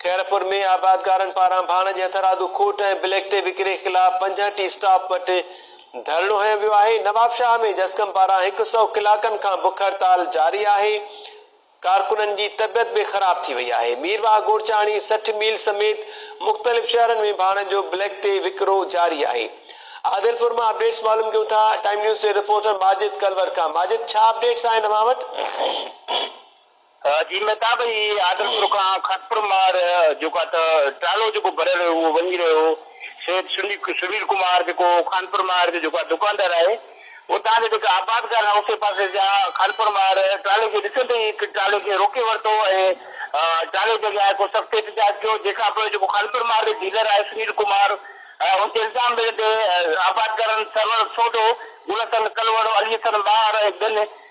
خيرپور ۾ آبادگارن پاران ڀاڻ جي هٿرادو کوٽ ۽ بليڪ ٽي وڪري خلاف پنجهن ٽي اسٽاپ وٽ ڌرڻو هنيو ويو آهي، نوابشاهه ۾ جسقم پاران هڪ سؤ ڪلاڪن کان بک هڙتال جاري آهي، ڪارڪنن جي طبيعت به خراب ٿي وئي آهي، مير واهه گورچاڻي سٺ ميل سميت مختلف شهرن ۾ ڀاڻ جو بليڪ ٽي وڪرو جاري آهي، عادلپور مان اپڊيٽس معلوم ڪيون ٿا، ٽائيم نيوز جي رپورٽر ماجد ڪلور کان ماجد ڇا اپڊيٽس آهن اوهان وٽ؟ جي مهتاب هي آدرشپور کان خاڪپور مار جيڪا ته ٽرالو جيڪو ڀريل هيو اهو وڃي رهيو هو سيد سنيل ڪمار جيڪو خانپور مار جو جيڪو دڪاندار آهي اتان جا جيڪا آبادگار اوسي پاسي جا خانپور مار ٽرالي کي ڏسندي ئي ٽرالي کي روڪي ورتو ۽ ٽرالي جي اڳيان هڪ سخت احتجاج ڪيو جنهن کان پوء جيڪو خانپور مار جو ڊيلر آهي سنيل ڪمار ان تي الزام لڳندي آبادگارن سرور سوڍو گل حسن ڪلوڙو علي حسن مار ۽ ٻين